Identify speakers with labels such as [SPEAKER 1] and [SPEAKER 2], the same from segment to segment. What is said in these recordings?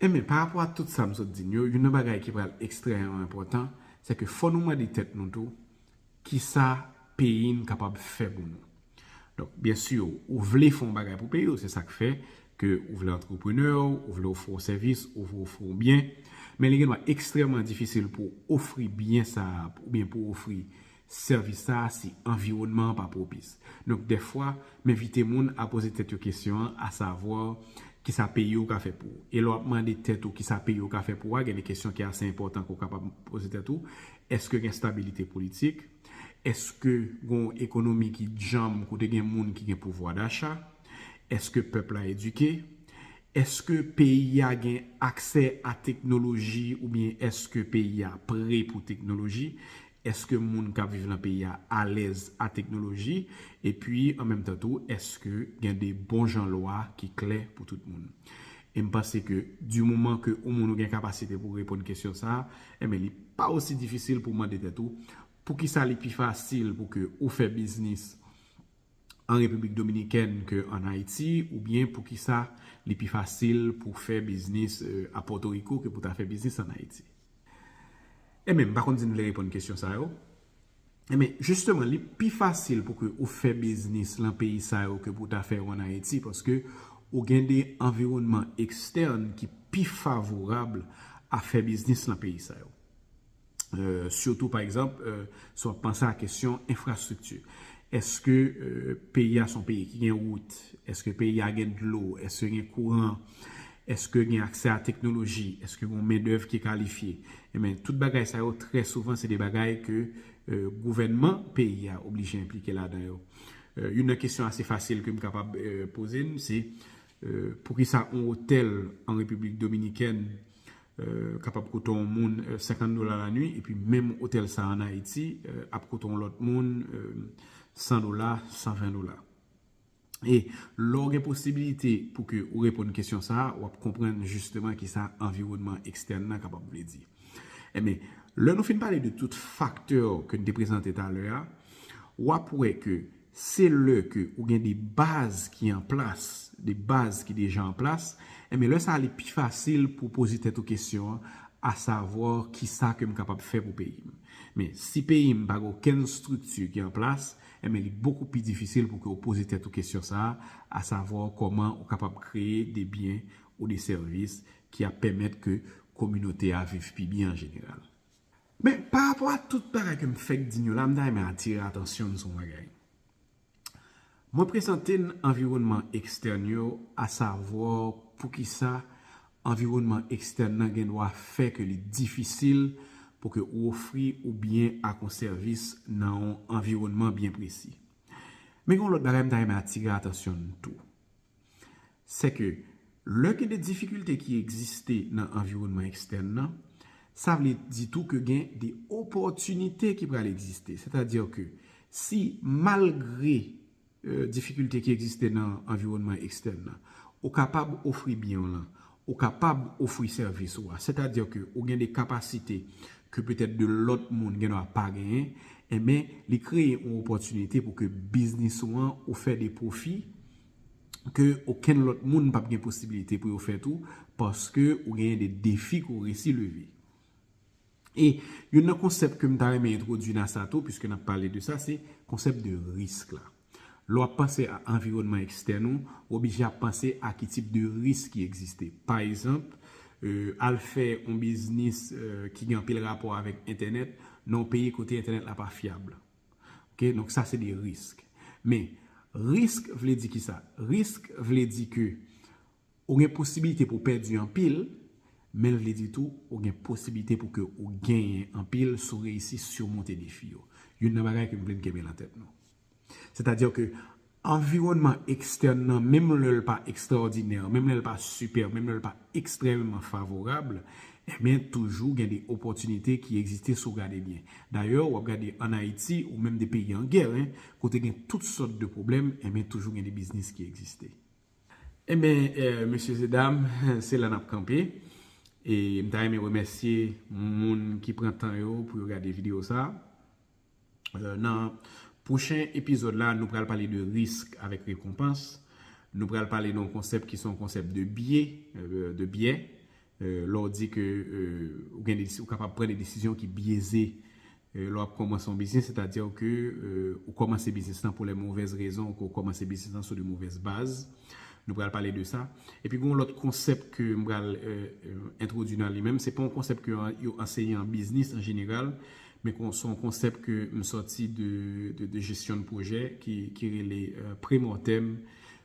[SPEAKER 1] Enben, pa rapò a tout sa m sot di n yo, youn nan bagay ki pral ekstrèmeman enpòtan, se ke fò nou mande tèt nou tou, ki sa peyi n kapab fè pou nou? Donk, byen si, ou vle fè yon bagay pou peyi w, se sa k fè ke ou vle antreprenè, ou vle ofri yon sèvis, ou vle ofri yon byen, men li gendwa ekstrèmeman difisil pou w ofri byen sa a oubyen pou w ofri sèvis sa a si anviwònman an pa pwopis. Donk dèfwa, m envite moun a poze tèt yo kesyon an, asavwa, kisa peyi ou ka fè pou ou? E lè w ap mande tèt ou kisa peyi ou ka fè pou ou a, gen de kesyon ki ase enpòtan ke w kapab poze tèt ou, Èske gen stabilite politik? Èske gen yon ekonomi ki djanm kote gen moun ki gen pouvwa dacha? Èske pèp la edike? Èske peyi a gen aksè a teknoloji oubyen èske peyi a pre pou teknoloji? Eske moun kap viv lan peyi a alèz a teknoloji? Epi an menm tan tou eske gen de bon jan lwa ki klè pou tout moun? E m panse ke di moman ke ou moun ou gen kapasite pou reponn kesyon sa, enben li pa osi difisil pou mande tèt ou, poukisa li pi fasil pou ke ou fè biznis, an Repiblik Dominikèn ke an Ayiti oubyen poukisa li pi fasil pou fè biznis a Pòtoriko ke pou ta fè biznis an Ayiti? Enben, m pa konn si n vle reponn kesyon sa yo. Enben, jisteman, li pi fasil pou ke ou fè biznis lan peyi sa yo ke pou ta fè yo an Ayiti paske ou gen de anviwònman ekstèn ki pi favorab a fè biznis lan peyi sa yo. Sitou pa egzanp, si w ap panse a kesyon enfrastrikti. Eske peyi a se yon peyi ki gen wout? Eske peyi a gen dlo? Eske gen kouran? Eske gen aksè a teknoloji? Eske gen yon mendèv ki kalifye? Enben, tout bagay sa yo, trè souvan, se de bagay ke gouvènman peyi a oblije enplike ladan yo. Youn nan kesyon ase fasil ke m kapab poze n, se, Poukisa on otèl an Repiblik Dominikèn kapab kote on moun 50 dola lanwi epi menm otèl sa an Ayiti ap kote on lòt moun 100 dola, 120 dola? E lè w gen posibilite pou ke ou reponn kesyon sa a, w ap konprann jisteman kisa anviwònman ekstèn nan kapab vle di. Enben, lè nou fin pale de tout faktè ke n te prezante talè a, w ap wè ke Se lè ke ou gen de baz ki an plas, de baz ki deja an plas, enben lè sa li pi fasil pou poze tèt ou kesyon an, a savoir ki sa ke m kapab fè pou peyi m. Men, si peyi m pa gen okenn strikti ki an plas, enben li bokou pi difisil pou ke ou poze tèt ou kesyon sa a, a savoir kòman ou kapab kreye de byen ou de sèvis ki ap pèmèt ke kominote a viv pi byen an jeneral. Men, pa rapò a tout bagay ke m fèk di n yo la, m ta renmen atire atansyon n sou yon bagay. Mwen prezante n anviwònman ekstèn yo, asavwa, poukisa anviwònman ekstèn nan gen dwa fè ke li difisil pou ke ou ofri yon byen ak yon sèvis nan yon anviwònman byen presi. Men gen yon lòt bagay m ta renmen atire atansyon n tou. se ke lè gen de difikilte ki egziste nan anviwònman ekstèn nan, sa vle di tou ke gen de opòtinite ki pral egziste. Sètadi ke si malgre difikilte ki egziste nan anviwònman ekstèn nan, ou kapab ofri byen w lan, Ou kapab ofri sèvis ou a. Sètadi ke ou gen de kapasite ke petèt de lòt moun gen dwa pa genyen. Enben, li kreye yon opòtinite pou ke biznis ou an ou fè de pwofi ke okenn lòt moun pap gen posibilite pou yo fè tou paske ou genyen de defi ke ou resi leve. E youn nan konsèp ke m ta renmen entwodui nan sa tou, piske n ap pale de sa, se konsèp de risk la. Lè w ap panse a anviwònman ekstèn ou, ou oblije ap panse a ki tip de risk ki egziste. Pa egzanp, al fè yon biznis ki gen anpil rapò avèk entènèt nan yon peyi kote entènèt la pa fyab. Ok, donk sa se de risk. Men, risk vle di ki sa? Risk vle di ke Ou gen posibilite pou w pèdi anpil, men l vle di tou ou gen posibilite pou ke ou genyen anpil si w reyisi simonte defi yo. Youn nan bagay ke m vle n kenbe lan tèt nou. Sètadi ke anviwònman ekstèn nan, menm lè l pa ekstraòdinè, menm lè l pa sipè, menm lè l pa ekstrèmeman favorab, enben toujou gen de opòtinite ki egziste si w gade byen. Dayè, w ap gade an Ayiti ou menm de peyi an gè, kote gen tout sòt de pwoblèm, enben toujou gen de biznis ki egziste. Enben mesye e dam se la nap kanpe e m ta renmen remèsye moun ki pran tan yo pou yo gade video sa nan pwochen epizòd la nou pral pale de risk avèk rekonpans nou pral pale de yon konsèp ki se yon konsèp de bye de byè Lè w di ke ou kapab pran de desizyon ki byeze lè w ap kòmanse yon biznis, sètadi ke ou kòmanse biznis lan pou lè movèz rezon, ke w kòmanse biznis lan sou de movèz baz. Nou pral pale de sa. Epi gen yon lòt konsèp ke m pral entwodui nan li menm. Se pa yon konsèp ke yo anseye an biznis an jeneral, men se yon konsèp ke m sòti de jesyon de pwojè ki rele pre-mortem.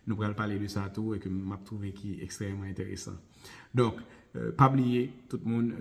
[SPEAKER 1] Nou pral pale de sa tou e ke m ap twouve ki ekstrèmeman enteresan. Donk pa bliye tout moun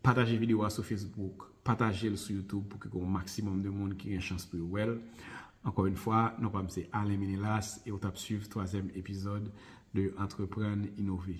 [SPEAKER 1] pataje video a sou Facebook, pataje l sou YouTube pou ke gen yon maksimòm de moun ki gen chans pou yo wè l. Ankò yon fwa, non pa m se Alain Menelas e ou t ap swiv twazyèm epizòd de Antreprann Inove.